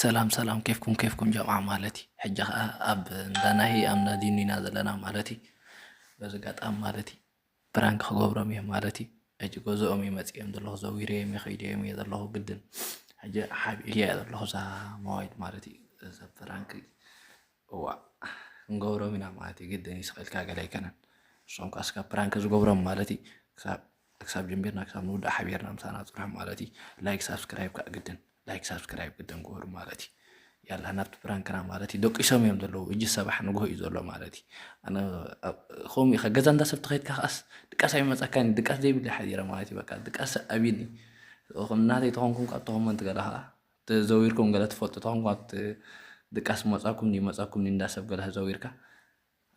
ሰላም ሰላም ኬፍኩም ኬፍኩም ጀምዓ ማለት እዩ ሕጂ ከኣ ኣብ እንዳ ናሂ ኣብ እንዳ ዲኒ ኢና ዘለና ማለት እዩ በዚ ኣጋጣሚ ማለት እዩ ፕራንክ ክገብሮም እየ ማለት እዩ ሕጂ ገዝኦም እዩ መፂኦም ዘለኹ ዘዊረዮም እየ ከይደዮም እየ ዘለኹ ግድን ሕጂ ሓቢእያ እየ ዘለኹ እዛ ሞባይል ማለት እዩ እዛ ፕራንክ እዋእ ክንገብሮም ኢና ማለት እዩ ግድን እዩ ስቅ ኢልካ ገለ ኣይከነን ንሶም ከኣ እስካ ፕራንክ ዝገብሮም ማለት እዩ ክሳብ ክሳብ ጀሚርና ክሳብ ንውዳእ ሓቢርና ምሳና ፅንሑ ማለት እዩ ላይክ ሳብስክራይብ ከዓ ግድን ላይክ ሳብስክራይብ ግድን ግበሩ ማለት እዩ ያላ ናብቲ ፕራንክና ማለት እዩ ደቂሶም እዮም ዘለዉ እጅ ሰባሕ ንግሆ እዩ ዘሎ ማለት እዩ ኣነ ኣብ- ከምኡ ኢኻ ገዛ እንዳ ሰብ ተኸይድካ ከዓስ ድቃስ ኣይመፀካን እዩ ድቃስ ዘይብለይ ሓዲረ ማለት እዩ በቃ ድቃስ ኣብይኒ ናተይ ተኾንኩም ካብ ተኾመንቲ ገለ ከዓ ተዘዊርኩም ገለ ትፈልጡ ተኮንኩም ኣብቲ ድቃስ መጻኩም ድዩ መጻኩም ድዩ እንዳ ሰብ ገለ ተዘዊርካ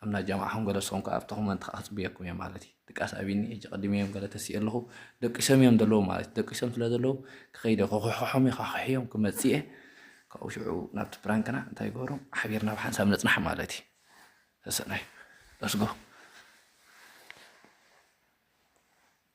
ኣብ ናይ ጃምዓኩም ገለ ንስኩም ከኣ ኣብቲ ኮመንት ከኣ ክጽብየኩም እየ ማለት እዩ ድቃስ ኣብኒ ሕጂ ቀዲመ እዮም ገለ ተሲኤ ኣለኩ ደቂሶም እዮም ዘለዉ ማለት ደቂሶም ስለ ዘለዉ ክከይደ ከኩሕሖም እየ ካኩሕዮም ክመጽእ እየ ካብኡ ሽዑ ናብቲ ፕራንክና እንታይ ገሩ ሓቢርና ብሓንሳብ ንጽናሕ ማለት እዩ ሰሰናዩ ለስጎ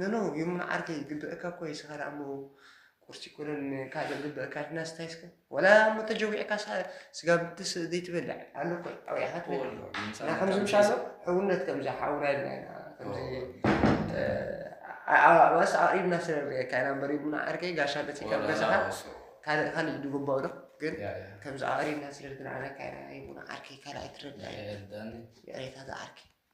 ኖኖ የሙና ዓርከይ ግብእካ እኮ እዩ ስካር ኣሞ ቁርሲ ኮነን ካልእ ግብእካ ድና ስታይ እስከ ወላ ኣሞ ተጀዊዕካ ስጋ ብትስ ዘይትበልዕ ኣሎ እኮ ኣውያካ ትበልዕ እና ከምዚ ምሻሎ ሕውነት ከምዚ ሓውና ኢልና ኢና ከምዚ ኣባስ ኣቅሪብና ስለንሪኤካ ኢና እምበር ይብሉ ዓርከይ ጋሻ መፂእካ ገዛኻ ካልእ ካልእ ዝግባኡ ዶ ግን ከምዚ ኣቅሪብና ስለዝንዓነካ ኢና ይብሉ ዓርከይ ካልኣይ ትረዳ ይሬታ ዝዓርከይ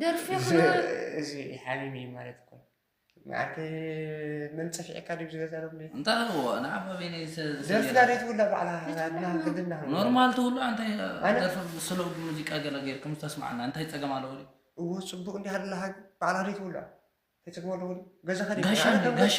ደርፊ እዚ ሓቢቢ ማለት እኮ ንዓርኪ መን ፀፊዕካ ድዩ ዝገዛ ሎም እንታይ ኣለዎ ንዓብ ኣበይነይ ደርፊ ዳደይ ትውላ ባዕላ ግድና ኖርማል ትውሉ እንታይ ደርፊ ስለ ሙዚቃ ገለ ጌርኩም ዝተስማዕና እንታይ ፀገም ኣለዎ እዎ ፅቡቅ እንዲ ሃለላሃ ባዕላ ደይ ትውላ ተፅግሞ ኣለዎ ገዛኻ ጋሻ ጋሻ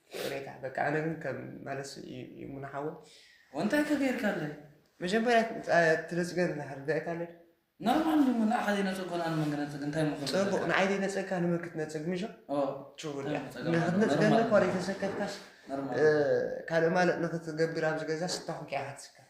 ይቅሬታ በቃ ኣነ ግን ከም ማለት እዩ ሙና ሓወይ ወንታይ ከገይርካለይ መጀመርያ ትነፅገን ርዳኢታለይ ኖርማል እዩ ንዓኻ ዘይነፀጎና ንመን ክነፅግ እንታይ ምኾ ፅቡቅ ንዓይ ዘይነፀግካ ንመን ክትነፅግ ምሾ ችውን ንክትነፅገኒ እኳ ዘይተሰከፍካስ ካልእ ማለት ንክትገብር ኣብዚ ገዛ ስታኹኪ ክትስከፍ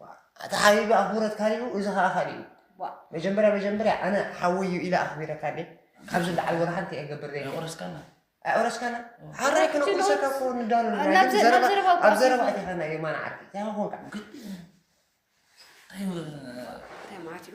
ዋእ ኣታ ሓቢቢ ኣክብሮት ካሊኡ እዚ ከኣ ካሊኡ ዋእ መጀመርያ መጀመርያ ኣነ ሓወይ እዩ ኢለ ኣክቢረካ እንዴ ካብዚ ንላዕሊ ወላ ሓንቲ እየ ክገብር ዘይክእል የቁርስካና ኣውረስካና ሓራይ ክነቁርሰካ እኮ ንዳሉ ናብ ናይ ናብ ዘረባ ዘረባ እኮ ኣብ ዘረባ ኣትዩ። እቲኻ ናይ የማን ዓርኪ እንታይ ኮንካ እንታይ ማለት እዩ?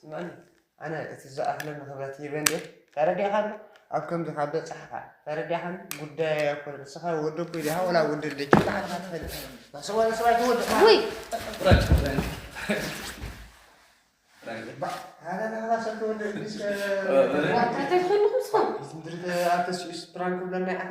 ስምዕኒ ኣነ እቲ ዝኣክለኒ ክብረት ሂበ እንድየ ተረዲእኻኒ ኣብ ከምዚ ካብ በፅሓኻ ተረዲእኻኒ ጉዳይ ኣይኮነ ንስኻ ወዲ እኮ ኢኻ ወላ ወዲ ልደች ብዓልካ ትፈልጥ ናሰዋ ንሰብኣይ ትወድ ውይ ኣተስኡስ ፕራንክ ብለና ይዓኸ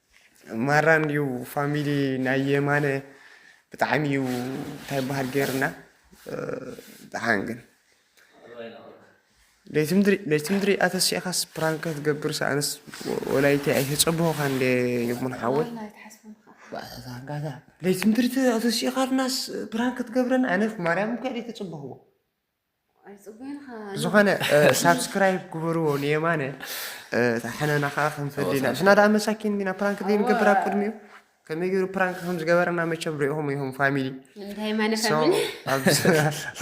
ማራ እንድዩ ፋሚሊ ናይ የማነ ብጣዕሚ እዩ እንታይ በሃል ገይርና ብጣዕሚ ግን ለይትምድሪ ኣተሲእኻስ ፕራንክ ክትገብር ኣነስ ወላይቲ ኣይተፀበኹኻን እንደ ይሙን ሓወይ ለይትምድሪ ኣተሲእኻናስ ፕራንክ ክትገብረና ኣነ ማርያም እኳ ኣይተፀበኽዎ ዝኾነ ሳብስክራይብ ግበርዎ ንየማነ ሓነና ከዓ ክንፈዲ ኢና ሽና ደኣ መሳኪን ዲና ፕራንክ ዘይንገብር ኣብ ቅድሚኡ ከመይ ገይሩ ፕራንክ ከም ዝገበረና መቸም ሪኢኹም ኢኹም ፋሚሊ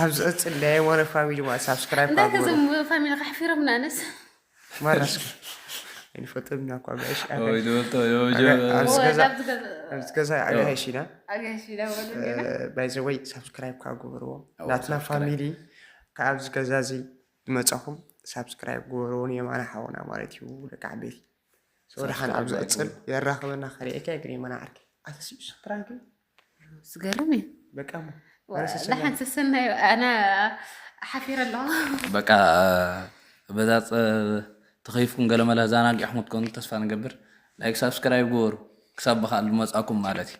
ኣብ ዝቕፅል ናይ የማነ ፋሚሊ ማለት ሳብስክራይብ ፋሚሊ ከሕፊሮም ንኣነስ ማናስኪ ኣይንፈጥም ኢና እኳ ጋይሽ ኣብዚ ገዛ ኣጋይሽ ኢና ባይዘወይ ሳብስክራይብ ከዓ ግበርዎ ናትና ፋሚሊ ካብ ኣብዚ ገዛ እዚ ዝመፃኹም ሳብስክራይብ ግበርዎ የማነ ሓውና ማለት እዩ ደቂ ዓበይቲ ሰወድሓን ኣብ ዝቕፅል የራኽበና ከሪኤካ ግን የማነ ዓርከይ ኣተስዩ ስፕራንክ ዝገርም እዩ በቃ ደሓን ሰሰናዩ ኣነ ሓፊረ ኣለኹ በቃ በዛ ተኸይፍኩም ገለመለ ዛናጊዕኩም ትኮኑ ተስፋ ንገብር ላይክ ሳብስክራይብ ግበሩ ክሳብ ብካል መፃኩም ማለት እዩ